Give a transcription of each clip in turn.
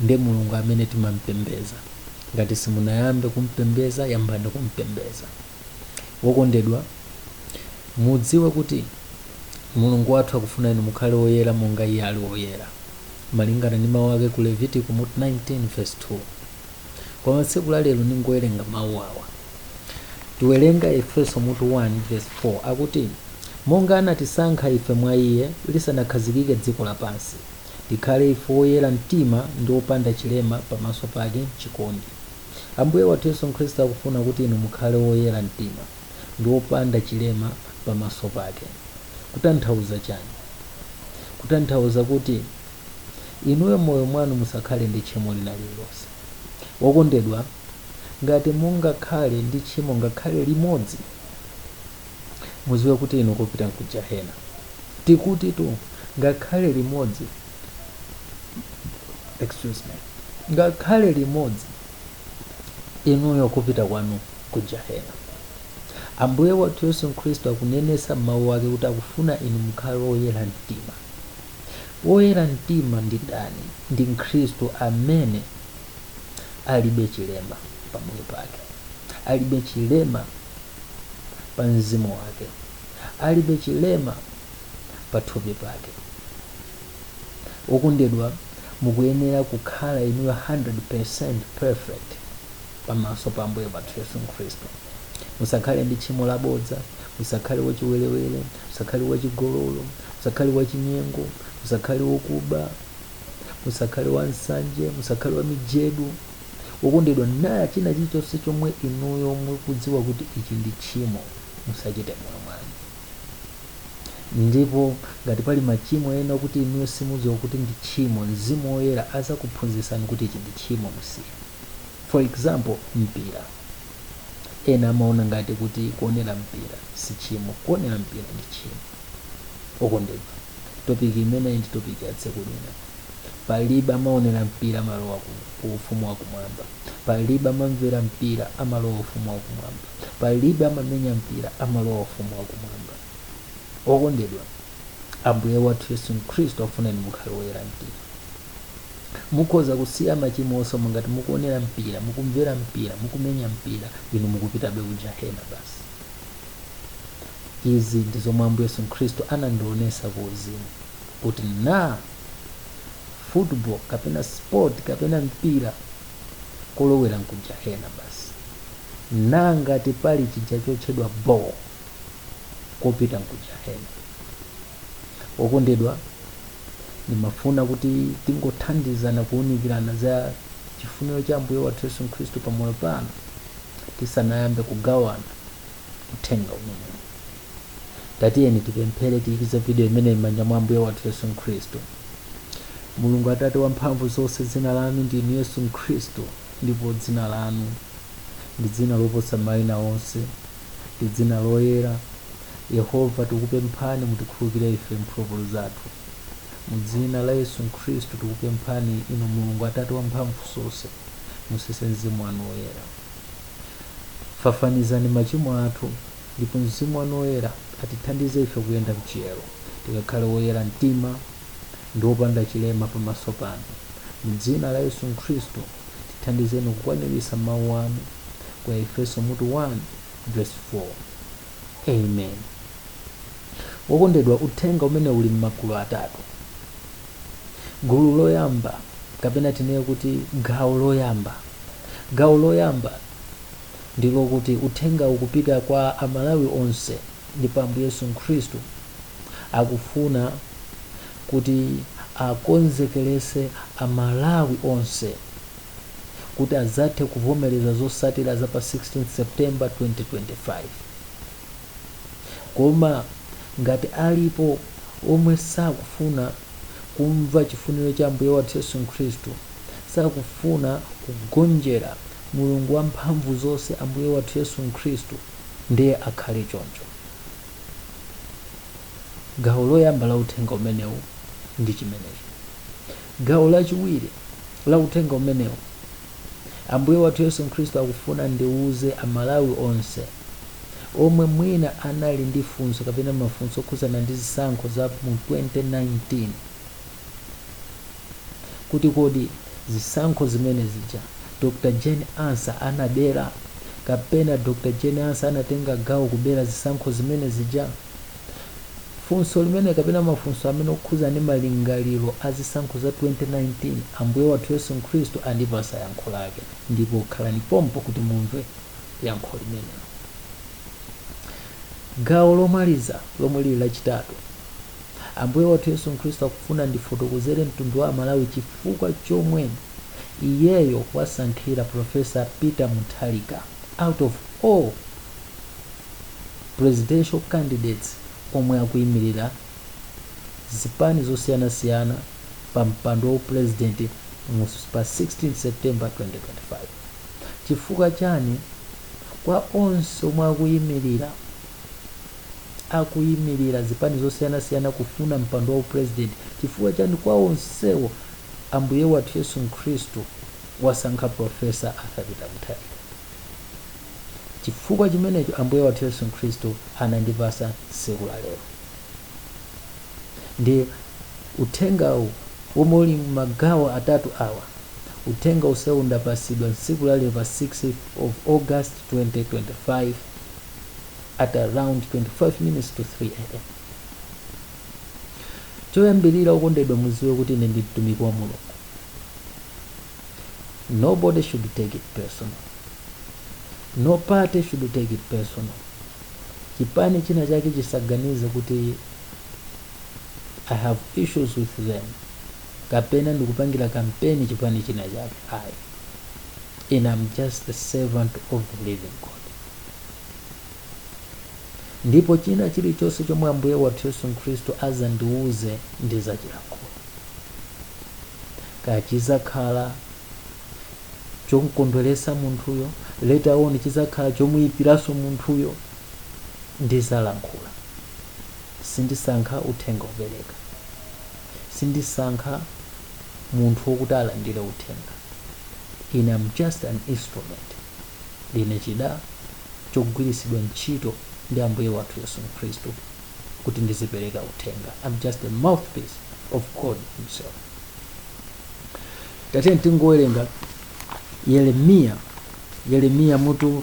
Nde Mulungu amene timampembeza. Ngati simunayambe kumpembeza yambani kumpembeza. Wokondedwa, mudziwe kuti Mulungu wathu akufuna inu mukhale oyera monga iye ali woyera. Malingana ndi mau ake ku Levitiko mutu 19 vesi 2. Koma tsiku la lero ndingowerenga mau awa. Tiwerenga Efeso mutu 1 vesi 4 akuti Monga anatisankha ife mwa iye lisanakhazikike dziko lapansi. Tikhale ife woyera mtima ndi wopanda chilema pamaso pake m'chikondi. Ambuye wathu Yesu Khristu akufuna kuti inu mukhale woyera mtima ndi wopanda chilema pamaso pake. Kutanthauza chani? Kutanthauza kuti inuyo m'moyo mwanu musakhale ndi tchimo lina lililonse. Wokondedwa, ngati mungakhale ndi tchimo ngakhale limodzi. muziwe kuti inu kopita nkujahena tikuti tu ngakhale limodzi excuse me ngakhale limodzi inuyo kopita kwanu nkujahena ambuye wathu yesu khristu akunenesa m'mawu ake kuti akufuna inu mukhale woyera mtima woyera mtima ndi ndani ndi mkhristu amene alibe chilema pamoyo pake alibe chilema pa mzimu wake alibe chilema pa thupi pake okondedwa mukuyenera kukhala inuyo 100% perfect pamaso pa ambuye wathu yesu khristu musakhale ndi tchimo labodza musakhale wachiwerewere musakhale wachigololo musakhale wachinyengo musakhale wokuba musakhale wansanje musakhale wamijedu Wokondedwa, na china chilichonse chomwe inuyo mukudziwa kuti ichi ndi tchimo, musachite m'moyo mwanu. Ndipo ngati pali machimo ena okuti inuyo simudziwa kuti ndi tchimo, Mzimu Woyera azakuphunzitsani kuti ichi ndi tchimo, musiye. For example, mpira. Ena amaona ngati kuti kuonera mpira si tchimo. Kuonera mpira ndi tchimo. Okondedwa, topiki imeneyi ndi topiki ya tsiku lina. Palibe amaonera mpira amalowa ku, ku ufumu wa kumwamba. Palibe amamvera mpira amalowa ufumu wa kumwamba. Palibe amamenya mpira amalowa ufumu wa kumwamba. Okondedwa, Ambuye wathu Yesu Khristu afuna inu mukhale woyera mtima. Mukhoza kusiya machimo onse koma ngati mukuonera mpira, mukumvera mpira, mukumenya mpira, inu mukupitabe ku jahena basi. Izi ndi zomwe Ambuye Yesu Khristu anandionesa ku uzimu. kuti na football kapena sport kapena mpira kolowera nku jahena basi na ngati pali chija chotchedwa ball kopita nku jahena okondedwa ndimafuna kuti tingothandizana kuunikirana za chifuniro cha ambuye wathu yesu khristu pamoyo pano tisanayambe kugawana uthenga umenewu tatiyeni tipemphere tiikize vidiyo imeneyi m'manja mwa ambuye wathu yesu khristu mulungu atate wa mphamvu zonse dzina lanu ndinu yesu khristu ndipo dzina lanu ndi dzina loposa mayina onse ndi dzina loyera yehova tikupemphani mutikhululukire ife mphulupulu zathu mu dzina la yesu khristu tikupemphani inu mulungu atate wa mphamvu zonse mutsitse mzimu wanu woyera fafanizani machimo athu Ndipo Mzimu wanu Woyera atithandize ife kuyenda mchiyero, tikakhale woyera mtima ndi opanda chilema pamaso panu. Mu dzina la Yesu Khristu, tithandizeni kukwaniritsa Mau anu ku Aefeso mutu 1 vesi 4. Amen. Wokondedwa, uthenga umene uli m'magulu atatu. Gulu loyamba kapena tinene kuti gawo loyamba. Gawo loyamba ndi lokuti uthenga ukupita kwa a Malawi onse ndipo Ambuye Yesu Khristu akufuna kuti akonzekelese a Malawi onse kuti azathe kuvomeleza zotsatila za pa 16th September 2025. Koma ngati alipo omwe sakufuna. kumva chifuniro cha Ambuye wathu Yesu Khristu, sakufuna kugonjera Mulungu wamphamvu zonse, Ambuye wathu Yesu Khristu, ndiye akhale choncho. Gawo loyamba la uthenga umenewu ndi chimenecho. Gawo lachiwiri la uthenga umenewu, Ambuye wathu Yesu Khristu akufuna ndiuze a Malawi onse, omwe mwina anali ndi funso kapena mafunso okhudzana ndi zisankho za mu 2019 kuti kodi zisankho zimene zija Dr Jane Ansah anabera kapena Dr Jane Ansah anatenga gawo kubera zisankho zimene zija. Funso limene kapena mafunso amene okhudzana ndi malingaliro a zisankho za 2019 Ambuye wathu Yesu Khristu andipatsa yankho lake, ndipo khalani pompo kuti mumve. yankho limenelo. Gawo lomaliza, lomwe lili lachitatu, Ambuye wathu Yesu Khristu akufuna ndifotokozere mtundu wa Amalawi chifukwa chomwe iyeyo wasankhira Professor Peter Mutharika out of all presidential candidates omwe akuyimirira zipani zosiyanasiyana pa mpando wa upulezidenti mu- pa 16 September 2025. Chifukwa chani? Kwa onse omwe akuyimirira akuyimirira zipani zosiyanasiyana kufuna mpando wa upresident, chifukwa chani kwa onsewo Ambuye wathu Yesu Mkhristu wasankha Prof. Arthur Peter Mutharika? Chifukwa chimenecho Ambuye wathu Yesu Mkhristu anandipasa tsiku la lero. ndi uthengawu womwe uli mmagawo atatu awa uthenga onsewu ndapasidwa tsiku la lero pa 6 of august 2025 at around 25 minutes to 3 am choyambirira okondedwa muziwe kuti ine ndi mtumiki wa mulungu nobody should take it personal no party should take it personal chipani china chake chisaganize kuti i have issues with them kapena ndikupangira kampeni chipani china chake ayi and I'm just the servant of the living God ndipo china chilichonse chomwe ambuye wathu yesu khristu azandiwuze ndizachilankhula kaya chizakhala chomkondweretsa munthuyo later on chizakhala chomuyipiranso munthuyo ndizalankhula sindisankha uthenga opereka sindisankha munthu wokuti alandire uthenga ine am just an instrument ndine chida chogwiritsidwa ntchito ndi ambuye wathu yesu khristu kuti ndizipereka uthenga am just a mouthpiece of god himself Tatiyeni tingowerenga Yeremiya, Yeremiya mutu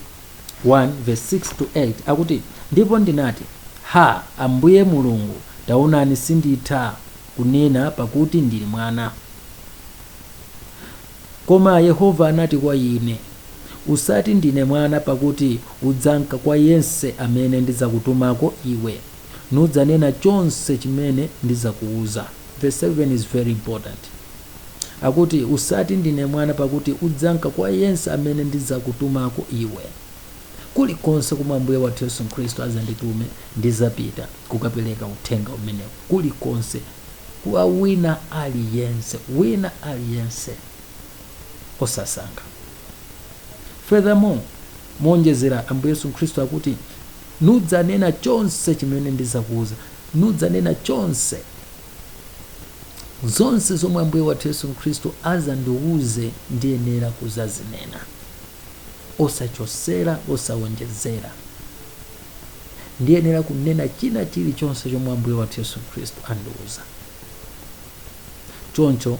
1 verse 6 to 8 akuti, Ndipo ndinati, Ha, Ambuye Mulungu, taonani sinditha kunena pakuti ndili mwana. Koma Yehova anati kwa ine, Usati ndine mwana pakuti udzamka kwa yense amene ndidzakutumako iwe, nudzanena chonse chimene ndidzakuuza. Verse 7 is very important. Akuti, Usati, Ndine Mwana, pakuti udzamka kwa yense amene ndidzakutumako iwe. Kulikonse komwe Ambuye wathu Yesu Khristu azanditume, ndizapita kukapereka uthenga umenewu kulikonse, kwa wina aliyense, wina aliyense, osasankha. Furthermore, Moonjezera, Ambuye Yesu Khristu akuti, Nudzanena chonse chimene ndidzakuuza. Nudzanena chonse. zonse zomwe ambuye wathu yesu khristu azandiwuze ndiyenera kuzazinena osachosera osawonjezera ndiyenera kunena china chilichonse chomwe ambuye wathu yesu khristu andiwuza choncho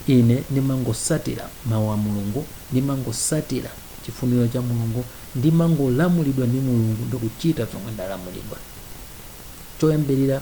ine ndimangosatira mawu a mulungu ndimangosatira chifuniro cha mulungu ndimangolamulidwa ndi mulungu ndikuchita zomwe ndalamulidwa choyambirira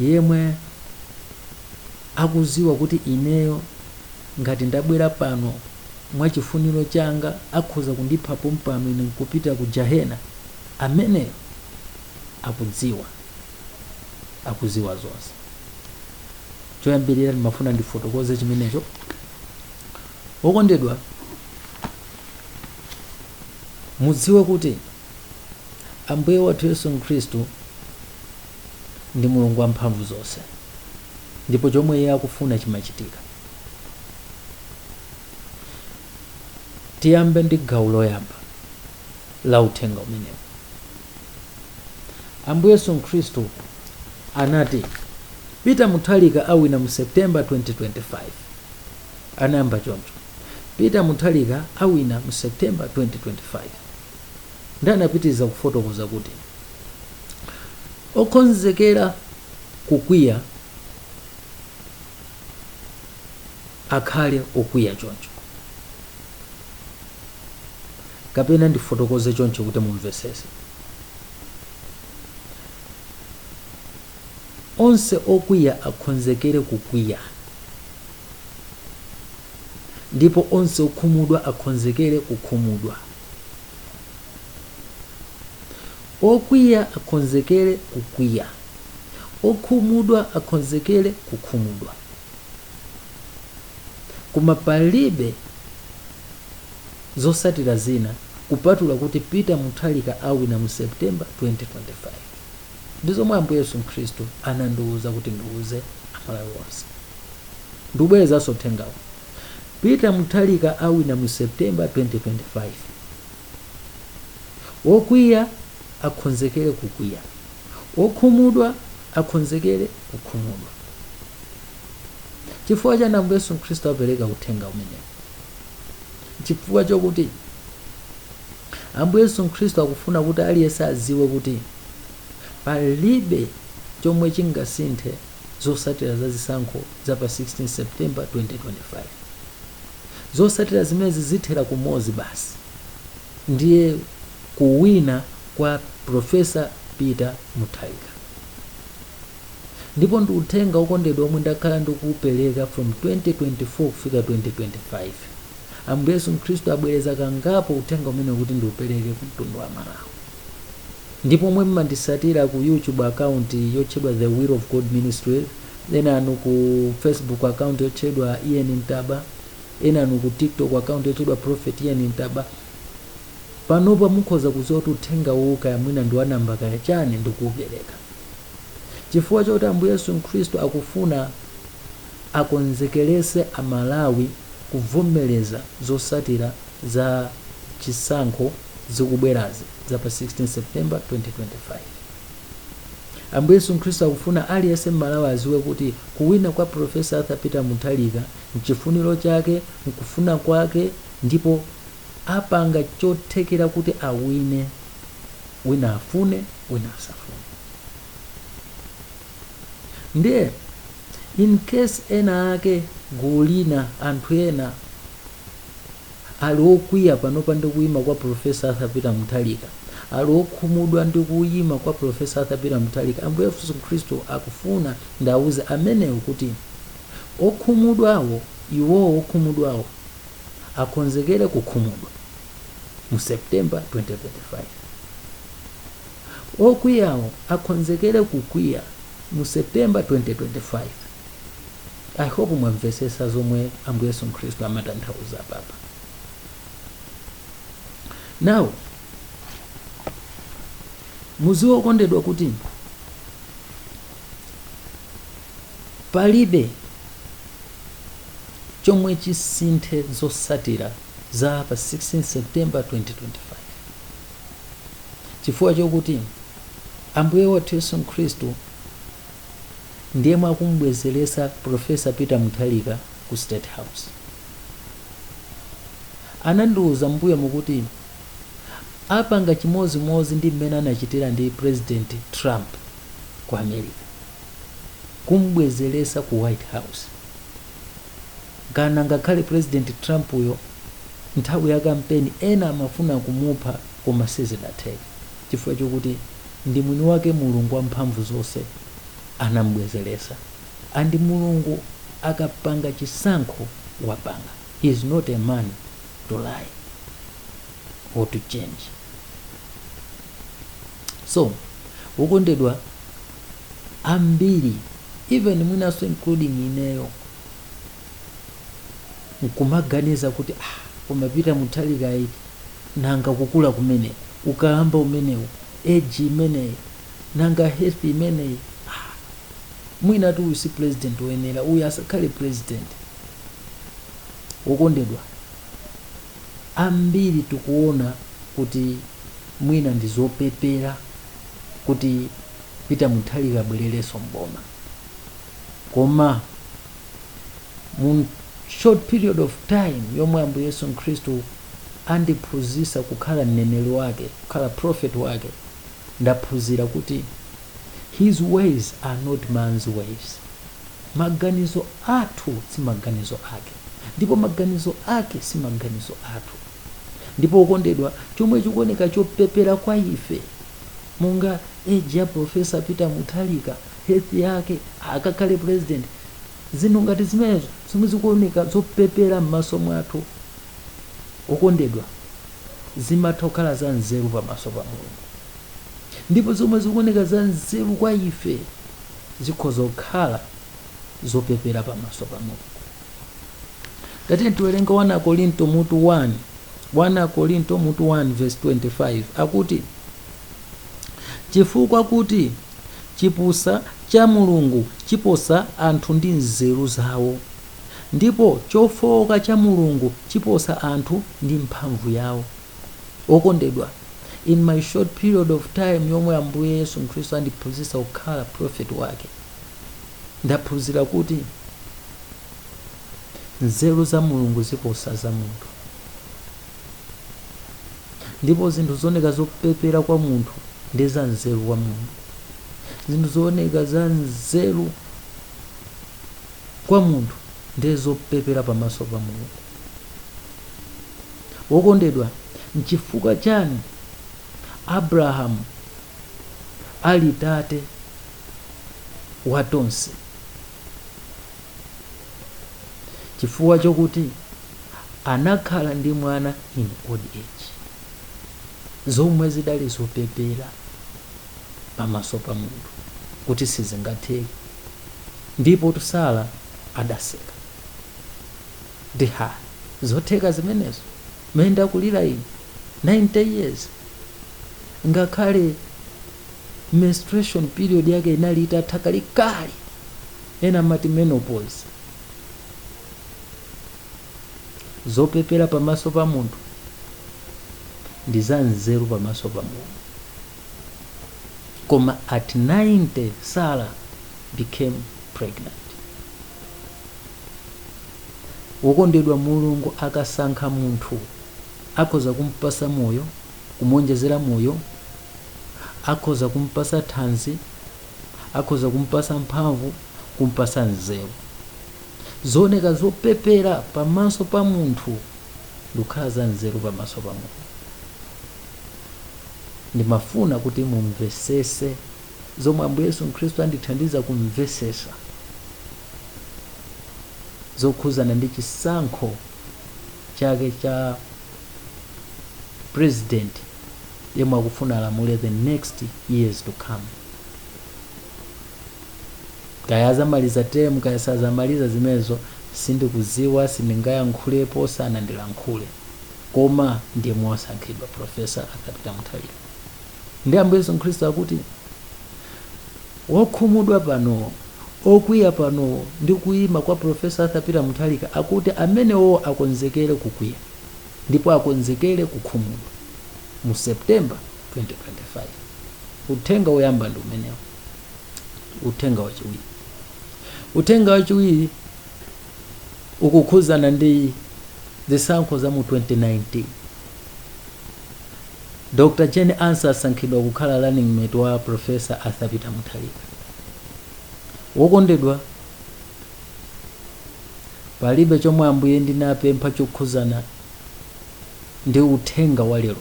yemwe akuziwa kuti ineyo ngati ndabwera pano mwa chifuniro changa akhoza kundipha pompano ine nkupita ku jahena ameneyo akudziwa akuziwa zonse choyambirira ndimafuna ndifotokoze chimenecho okondedwa mudziwe kuti Ambuye wathu Yesu Khristu ndi Mulungu wamphamvu zonse ndipo chomwe iye akufuna chimachitika. Tiyambe ndi gawo loyamba la uthenga umenewu. Ambuye Yesu Khristu anati Peter Mutharika awina mu September 2025. Anayamba choncho. Peter Mutharika awina mu September 2025. ndi anapitiriza kufotokoza kuti okhonzekera kukwiya akhale okwiya choncho kapena ndifotokoze chonchi kuti mumvesese onse okwiya akhonzekere kukwiya ndipo onse okhumudwa akhonzekere kukhumudwa okwiya akhonzekere kukwiya okhumudwa akhonzekere kukhumudwa koma palibe zosatira zina kupatula kuti peter mutharika awina mu september 2025 Ndi zomwe Ambuye Yesu Khristu anandiuza kuti ndiuze Amalawi onse. Ndikubwerezanso uthengawu. Peter Mutharika awina mu September 2025. Wokwiya akhonzekere kukwiya. Wokhumudwa akhonzekere kukhumudwa. Chifukwa chani Ambuye Yesu Khristu apereka uthenga umenewu? Chifukwa chokuti Ambuye Yesu Khristu akufuna kuti aliyense adziwe kuti Palibe chomwe chingasinthe zosatira za zisankho za pa 16 September 2025. Zosatira zimenezi zithera kumozi basi ndiye kuwina kwa Prof. Peter Mutharika. Ndipo ndi uthenga okondedwa omwe ndakhala ndikuupeleka from 2024 kufika 2025. Ambuye Yesu Khristu abwereza kangapo uthenga umenewu kuti ndiupeleke ku mtundu wa Malawi. ndipo omwe mmandisatira ku youtube account yotchedwa the will of god ministry ena anu ku facebook account yotchedwa ian ntaba ena anu ku tiktok account yotchedwa prophet ian ntaba panopa mukhoza kudziwa kuti uthenga uwu kaya mwina ndi wanamba kaya chani ndikuupereka chifukwa choti ambuye yesu khristu akufuna akonzekerese amalawi kuvomereza zosatira za chisankho zikubwerazi za pa 16 september 2025 ambuye yesu khristu akufuna aliyense mmalawi aziwe kuti kuwina kwa profesa arthur peter mutharika mchifuniro chake nkufuna kwake ndipo apanga chothekera kuti awine wina afune wina asafune ndiye in case ena ake gulu lina anthu ena Ali okwiya panopa ndi kuyima kwa Prof. Arthur Peter Mutharika. Ali okhumudwa ndi kuyima kwa Prof. Arthur Peter Mutharika. Ambuye Yesu Khristu akufuna ndiawuze amenewo kuti okhumudwawo, iwowo okhumudwawo akhonzekere kukhumudwa mu September 2025. Okwiyawo akhonzekere kukwiya mu September 2025. i hope mwamvesesa zomwe ambuye yesu khristu amatanthauza apapa now muziwe okondedwa kuti palibe chomwe chisinthe zosatira za pa 16 september 2025 chifukwa chokuti ambuye wathu yesu khristu ndiyemwe akumubwezelesa professor peter mutharika ku state house anandiuza m'mbuyomu kuti apanga chimozimozi ndi mmene anachitira ndi president trump ku america kumubwezelesa ku white house kana ngakhale president trump uyo nthawi ya kampeni ena amafuna kumupha koma sizidatheke chifukwa chokuti ndi mwini wake mulungu wamphamvu zonse anamubwezeresa and mulungu akapanga chisankho wapanga he is not a man to lie or to change so okondedwa ambiri even mwinaso including ineyo nkumaganiza kuti ah, koma peter mutharikayu nanga kukula kumene ukalamba umenewu age imeneyi nanga health imeneyi ah, mwinatu uyu si president woyenera uyu asakhale president okondedwa ambiri tikuona kuti mwina ndi zopepera kuti peter mutharika abwererenso m'boma koma mu short period of time yomwe ambuye yesu khristu andiphunzitsa kukhala mneneri wake kukhala prophet wake ndaphunzira kuti His ways are not man's ways. Maganizo athu si maganizo ake, ndipo maganizo ake si maganizo athu. Ndipo okondedwa, chomwe chikuoneka chopepera kwa ife, monga age ya Professor Peter Mutharika, health yake, akakhale president, Zinthu ngati zimenezo, zomwe zikuoneka zopepera m'maso mwathu, okondedwa, zimatha kukhala za nzeru pamaso pa Mulungu. Ndipo zomwe zikuoneka za nzeru kwa ife zikhoza kukhala zopepera pamaso pa Mulungu. Tatiyeni tiwerenge 1 Akorinto mutu 1. 1 Akorinto mutu 1 verse 25 akuti, Chifukwa kuti Chipusa cha Mulungu chiposa anthu ndi nzeru zawo, ndipo chofowoka cha Mulungu chiposa anthu ndi mphamvu yawo. Okondedwa, in my short period of time yomwe Ambuye Yesu Khristu andiphunzitsa kukhala prophet wake, ndaphunzira kuti nzeru za Mulungu ziposa za munthu. ndipo zinthu zooneka zopepera kwa munthu ndi za nzeru kwa mulungu zinthu zooneka za nzeru kwa munthu ndi zopepera pamaso pa mulungu wokondedwa nchifukwa chani abrahamu ali tate wa tonse chifukwa chokuti anakhala ndi mwana in old age zomwe zidali zopepera pamaso pa munthu kuti sizingatheke ndipo Sara adaseka ndi ha zotheka zimenezo mene ndakulira ine 90 years ngakhale menstruation period yake inali itatha kalekale ena amati menopause zopepera pamaso pa munthu ndi za nzeru pamaso pa mulungu koma at 90 sara became pregnant wokondedwa mulungu akasankha munthu akhoza kumpasa moyo kumuonjezera moyo, akhoza kumpasa thanzi, akhoza kumpasa mphamvu, kumpasa nzeru. Zooneka zopepera pamaso pa munthu ndikukhala za nzeru pamaso pa Mulungu. Ndimafuna kuti mumvesese zomwe Ambuye Yesu Khristu andithandiza kumvesesa zokhuzana ndi chisankho chake cha president yemwe akufuna alamulire the next years to come kaya azamaliza term kaya sazamaliza zimenezo sindikuziwa sindingayankhulepo sanandilankhule koma ndi yemwe wasankhidwa profesa Arthur Peter Mutharika ndi ambuye yesu khristu akuti wokhumudwa pano okwiya pano ndi kuyima kwa profesa Arthur Peter Mutharika akuti amenewo akonzekere kukwiya ndipo akonzekere kukhumudwa mu September 2025. Uthenga woyamba ndi umenewo. Uthenga wachiwiri, uthenga wachiwiri ukukhuzana ndi zisankho za mu 2019. Dr. Jane Ansah asankhidwa kukhala running mate wa Professor Arthur Peter Mutharika. Wokondedwa Palibe chomwe Ambuye ndinapempha chokhuzana ndi uthenga wa lero.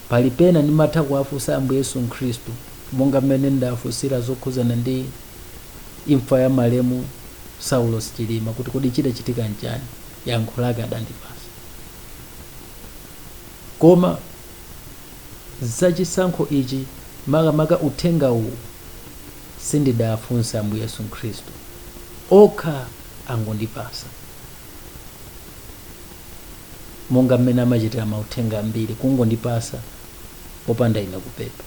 Pali pena ndimatha kuwafunsa Ambuye Yesu Mkhristu monga mmene ndafunsira zokhuzana ndi imfa ya malemu Saulos Chilima kuti kodi chidachitika nchani, yankho lake adandipasa. Koma za chisankho ichi makamaka uthenga uwu sindidafunse Ambuye Yesu Khristu okha angondipasa monga mmene amachitira mauthenga ambiri kungondipasa popanda ine kupempha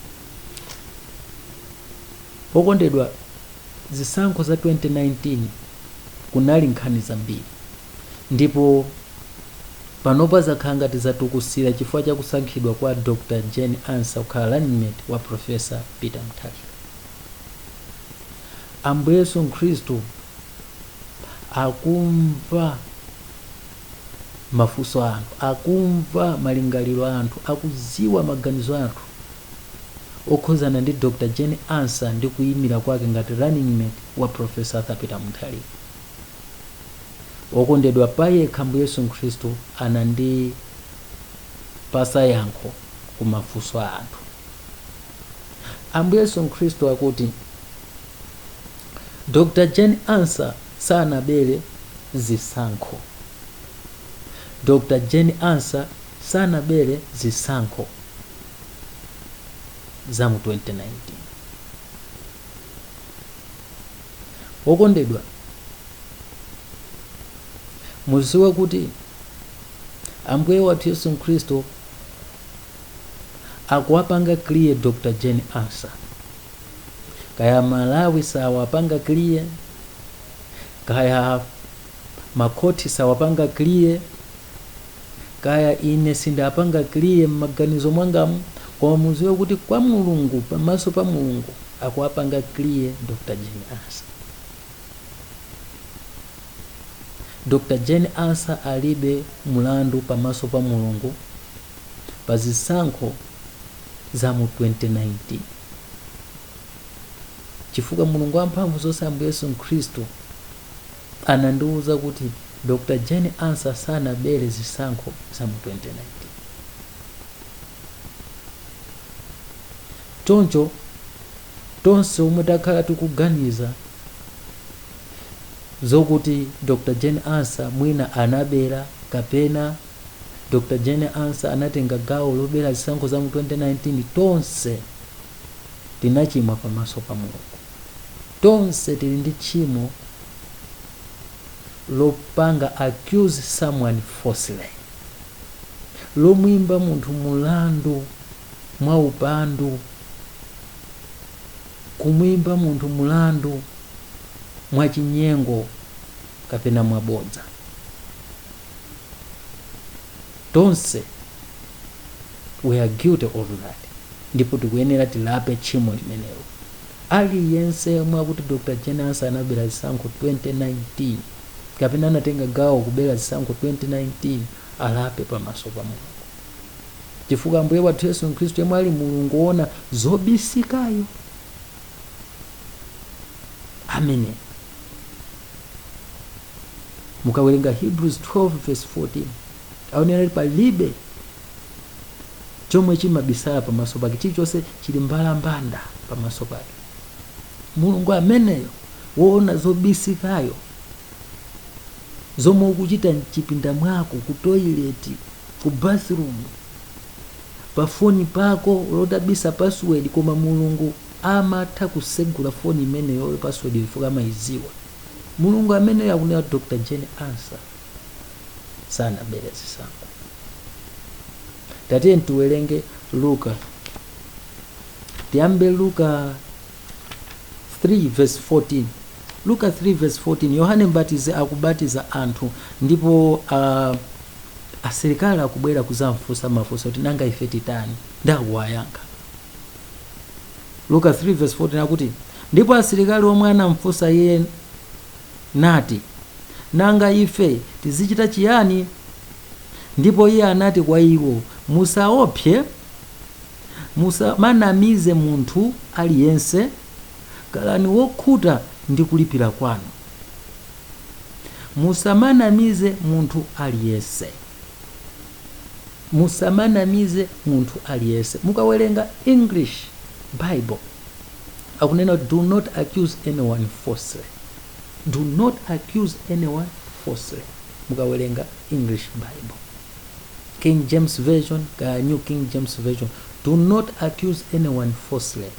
Okondedwa, zisankho za 2019 kunali nkhani zambiri ndipo panopa zakhala ngati zatukusira chifukwa cha kusankhidwa kwa Dr Jane Ansah kukhala running mate wa Professor Peter Mutharika. Ambuye Yesu Mkhristu akumva. mafunso a anthu akumva malingaliro a anthu akudziwa maganizo a anthu okhuzana ndi Dr Jane Ansah ndi kuyimira kwake ngati running mate wa Professor Arthur Peter Mutharika okondedwa payekha Ambuye Yesu Mkhristu anandipasa yankho ku mafunso a anthu Ambuye Yesu Mkhristu akuti Dr Jane Ansah sanabere zisankho. Dr Jane Ansah sanabere zisankho za mu 2019. Wokondedwa, muziwe kuti Ambuye wathu Yesu Mkhristu akuwapanga clear Dr Jane Ansah kaya malawi sawapanga clear kaya makhoti sawapanga clear kaya ine sindapanga clear m'maganizo mwangamu koma muziwe kuti kwa mulungu pamaso pa mulungu akuwapanga clear dr jane ansah dr jane ansah alibe mulandu pamaso pa mulungu pa zisankho za mu 2019 chifukwa mulungu wamphamvu zonse ambuye yesu mkhristu anandiwuza kuti dr jane ansah sanabere zisankho za mu 2019 choncho tonse omwe takhala tikuganiza zokuti dr jane ansah mwina anabera kapena Dr Jane Ansah anatenga gawo lobera zisankho za mu 2019 tonse tinachimwa pamaso pa Mulungu tonse tili ndi tchimo lopanga accuse someone falsely lomwimba munthu mulandu mwa upandu kumwimba munthu mulandu mwa chinyengo kapena mwabodza tonse we are guilty of that ndipo tikuyenera tilape tchimo limenelo aliyense yemwe akuti dr jane ansah anabera zisankho 2019 kapena anatenga gawo kubera zisankho 2019 alape pamaso pa mulungu chifukwa ambuye wathu yesu khristu yemwe ali mulungu woona zobisikayo amene mukawerenga hebrews 12 verse 14 aonera kuti palibe chomwe chimabisala pamaso pake chilichonse chili mbalambanda pamaso pake mulungu ameneyo woona zobisikayo zomwe ukuchita mchipinda mwako ku toilet ku bathroom pafoni pako lotabisa password koma mulungu amatha kusegula foni imeneyoyo password chifukwa amayidziwa. Mulungu ameneyo akunena Dr Jane Ansah sanabere zisankho. Tatiyeni tiwerenge Luka. Tiyambe Luka 3 verse 14. Luka 3 verse 14 Yohane Mbatizi akubatiza anthu ndipo uh, asilikali akubwera kuzamfunsa mafunso kuti nanga ife titani? Ndi akuwayankha. Luka 3 vs 14 akuti, Ndipo asilikali omwe anamfunsa iye, nati, Nanga ife tizichita chiyani? Ndipo iye anati kwa iwo, Musaopse, musamanamize munthu aliyense, khalani wokhuta ndi kulipira kwanu. Musamanamize munthu aliyense. musamanamize munthu aliyense mukawerenga english bible akunena kuti do not accuse anyone falsely do not accuse anyone falsely mukawerenga english bible king james version kaya new king james version do not accuse anyone falsely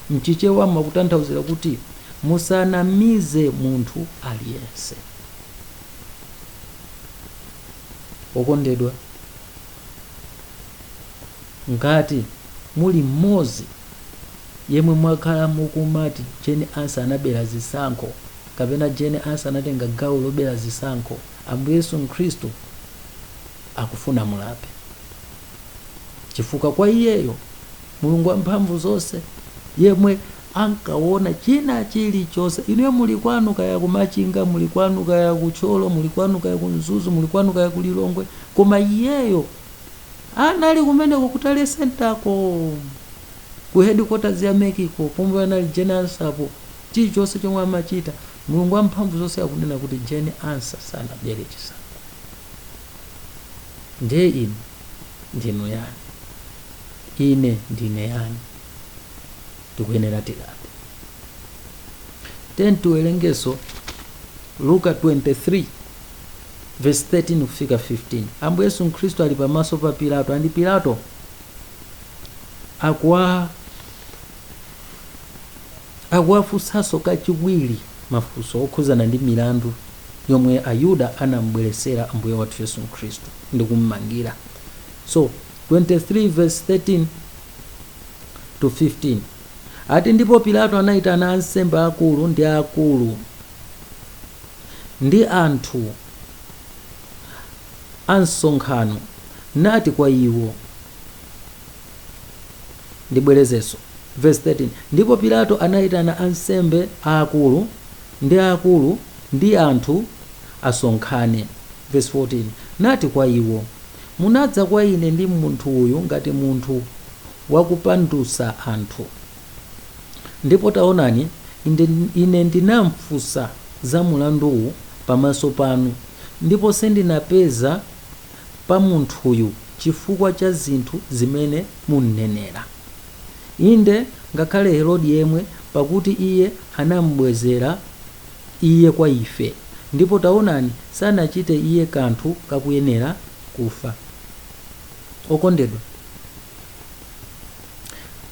mchichewa makutanthauzira kuti musanamize munthu aliyense Okondedwa, ngati muli mmodzi yemwe mwakhala mukumati Jane Ansah anabera zisankho kapena Jane Ansah anatenga gawo lobera zisankho, Ambuye Yesu Khristu akufuna mulape. Chifukwa kwa iyeyo, Mulungu wamphamvu zonse yemwe ankaona china chilichonse. Inuyo muli kwanu kaya ku Machinga, muli kwanu kaya ku Thyolo, muli kwanu kaya ku Mzuzu, muli kwanu kaya ku Lilongwe, koma iyeyo anali kumeneko ku Tally Centerko, ku headquarters ya MECko, pomwe anali Jane Ansahpo. Chilichonse chomwe amachita, Mulungu wamphamvu zonse akunena kuti Jane Ansah sanabere chisankho. Ndiye inu ndinu yani? Ine ndine yani? tikuyenera tilape then tiwerengeso luka 23 verse 13 kufika 15 ambuye yesu mkhristu ali pamaso pa pilato and pilato akuwafunsanso kachiwiri mafunso okhuzana ndi milandu yomwe ayuda anambweresera ambuye wathu yesu mkhristu ndi kummangira so 23 verse 13 to 15 ati ndipo pilato anayitana ansembe akulu ndi akulu ndi anthu asonkhane nati kwa iwo ndibwerezenso verse 13 ndipo pilato anayitana ansembe aakulu ndi akulu ndi anthu asonkhane verse 14 nati kwa iwo Munadza kwa ine ndi munthu uyu ngati munthu wakupandutsa anthu. Ndipo taonani, ine ndinamfunsa za mulanduwu pamaso panu, ndipo sindinapeza pa munthuyu chifukwa cha zinthu zimene mumnenera, inde, ngakhale Herodi yemwe, pakuti iye anam'bwezera iye kwa ife, ndipo taonani, sanachite iye kanthu kakuyenera kufa. Okondedwa,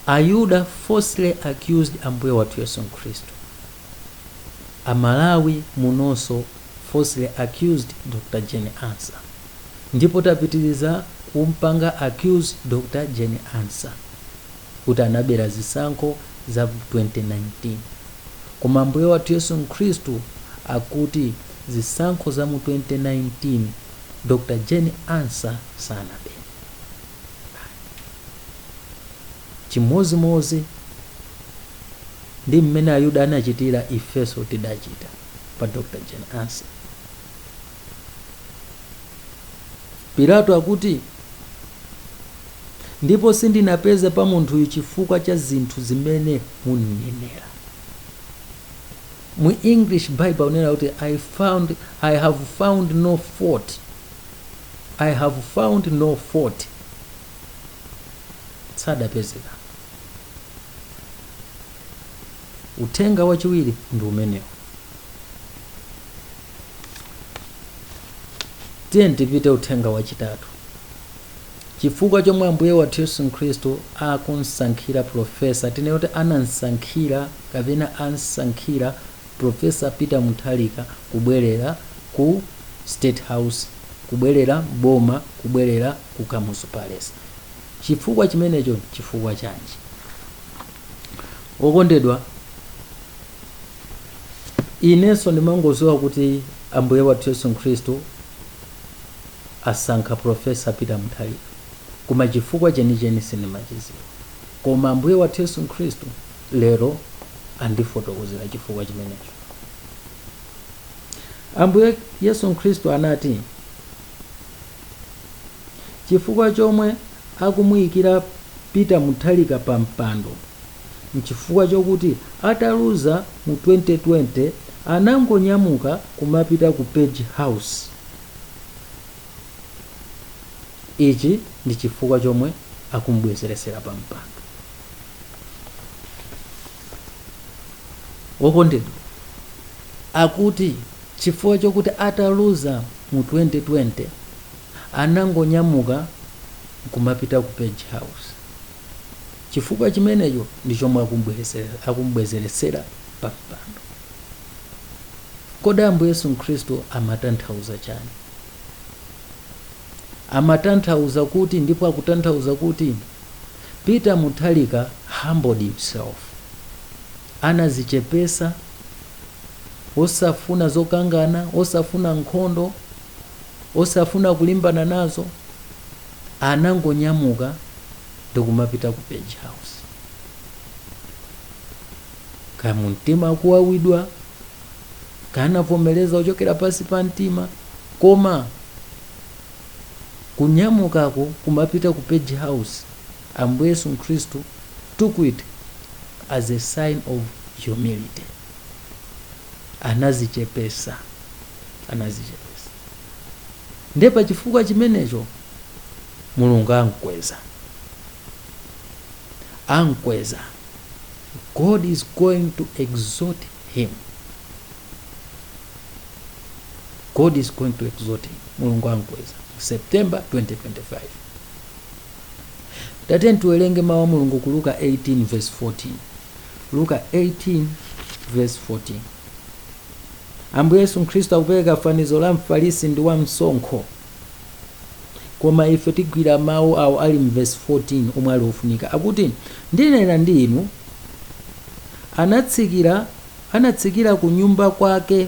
Ayuda falsely accused Ambuye wathu Yesu Khristu. Amalawi munonso falsely accused Dr Jane Ansah. Ndipo tapitiliza kumpanga accuse Dr Jane Ansah. kuti anabera zisankho za 2019. Koma Ambuye wathu Yesu Khristu akuti zisankho za mu 2019 Dr Jane Ansah sanabere. Chimodzimodzi ndi mmene Ayuda anachitira, ifenso tidachita pa Dr Jane Ansah. Pilato akuti, Ndipo sindinapeza pa munthuyu chifukwa cha zinthu zimene mumnenera. Mu English Bible kunena kuti I found I have found no fault. I have found no fault. Sadapezeka. Uthenga wachiwiri ndi umenewo. tiye tipite uthenga wachitatu chifukwa chomwe ambuye wathu yesu mkhristu akumsankhira profesa tinene kuti anamsankhira kapena amsankhira profesa peter mutharika kubwerera ku state house kubwerera m'boma kubwerera ku kamuzu palace chifukwa chimenecho chifukwa chanji wokondedwa inenso ndimangodziwa kuti ambuye wathu yesu khristu asankha profesa peter mutharika koma chifukwa chenicheni sindimachidziwa koma ambuye wathu yesu khristu lero andifotokozera chifukwa chimenecho ambuye yesu khristu anati Chifukwa chomwe akumuyikira Peter Mutharika pa mpando nchifukwa chokuti ataluza mu 2020 anangonyamuka kumapita ku Page House. Ichi ndi chifukwa chomwe akumubwezeretsera pa mpando. Wokondedwa akuti chifukwa chokuti ataluza mu 2020 anangonyamuka kumapita ku page house chifukwa chimenecho ndi chomwe akumbwezeretsera pa mpando kodi ambuye yesu mkhristu amatanthauza chani amatanthauza kuti ndipo akutanthauza kuti peter mutharika humbled himself anadzichepetsa osafuna zokangana osafuna nkhondo osafuna kulimbana nazo anangonyamuka ndikumapita ku page house kaya mumtima akuwawidwa kaya anavomereza kuchokera pansi pa mtima koma kunyamukako kumapita ku page house ambuye yesu khristu took it as a sign of humility anazichepesa anazichepesa nde pa chifukwa chimenecho mulungu ankweza ankweza god is going to exalt him god is going to exalt him mulungu ankweza september 2025 tatiyeni tiwerenge mawu a mulungu ku luka 18 verse 14 Luka 18 vesi 14. Ambuye Yesu Khristu akupereka fanizo la Mfarisi ndi wa msonkho. Koma ife tigwira mawu awo ali m'vesi 14 omwe ali ofunika. Akuti, Ndinena ndi inu, anatsikira anatsikira ku nyumba kwake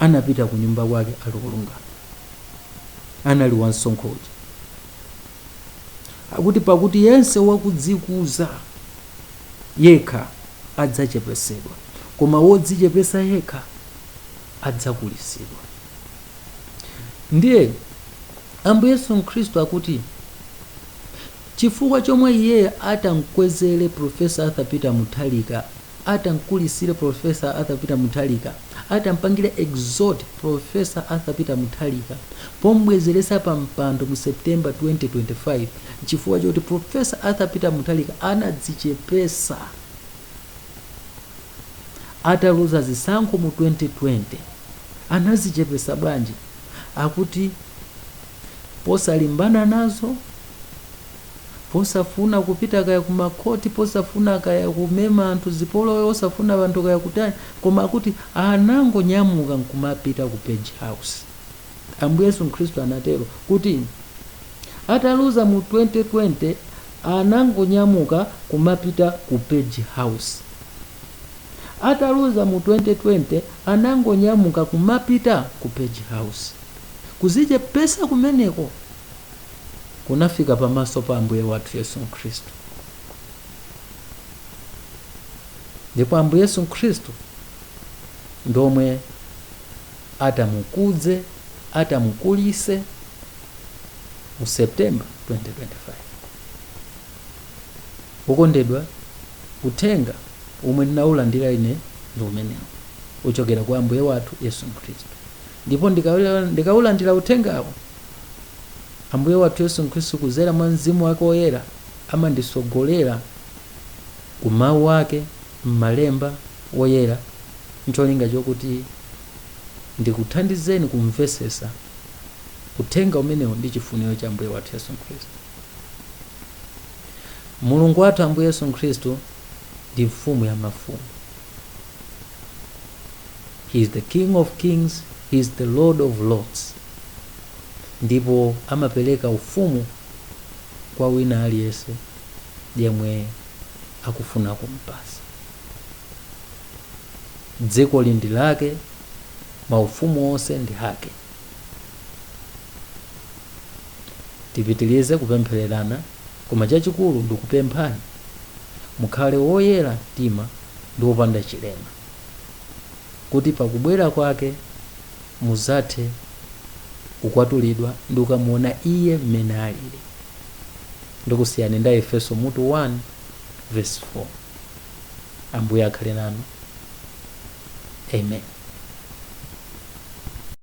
anapita ku nyumba kwake ali wolungama anali wansonkho uja akuti pakuti yense wakudzikuza yekha adzachepesedwa koma wodzichepesa yekha adzakulitsidwa ndiye ambuye yesu khristu akuti chifukwa chomwe iye atamkwezere profesa arthur peter mutharika Atamkulisire Prof. Arthur Peter Mutharika, atampangire exalt Prof. Arthur Peter Mutharika pom'bwezeresa pa mpando mu September 2025 chifukwa choti Prof. Arthur Peter Mutharika anadzichepesa ataluza zisankho mu 2020. Anazichepesa bwanji? Akuti posalimbana nazo. posafuna kupita kaya ku makhoti posafuna kaya kumema anthu zipolowe osafuna anthu kaya kutani koma akuti anangonyamuka nkumapita ku page house ambuye yesu khristu anatero kuti ataluza mu 2020 anangonyamuka kumapita ku page house ataluza mu 2020 anangonyamuka kumapita ku page house kuzichepesa kumeneko kunafika pamaso pa Ambuye wathu Yesu Khristu. Ndipo Ambuye Yesu Khristu ndi omwe atamukudze, atamukulise mu September 2025. Wokondedwa, uthenga omwe ndinawulandira ine ndi umenewu wochokera kwa Ambuye wathu Yesu Khristu. Ndipo ndikawulandira uthengawo, Ambuye wathu Yesu Khristu kuzera mwa Mzimu wake Woyera amandisogolera ku mawu ake m'malemba Woyera ncholinga chokuti ndikuthandizeni kumvesesa uthenga umenewo ndi chifuniro cha Ambuye wathu Yesu Khristu. Mulungu wathu Ambuye Yesu Khristu ndi mfumu ya mafumu. he is the king of kings he is the lord of lords ndipo amapereka ufumu kwa wina aliyense yemwe akufuna kumpasa dziko ili ndi lake maufumu onse ndi ake tipitilize kupemphererana Koma chachikulu ndikupemphani mukhale woyera mtima ndi wopanda chilema, kuti pa kubwera kwake muzathe kukwatulidwa ndi kukamuona Iye mmene alili. Ndikusiyani ndi Aefeso mutu 1 vesi 4. Ambuye akhale nanu. Amen.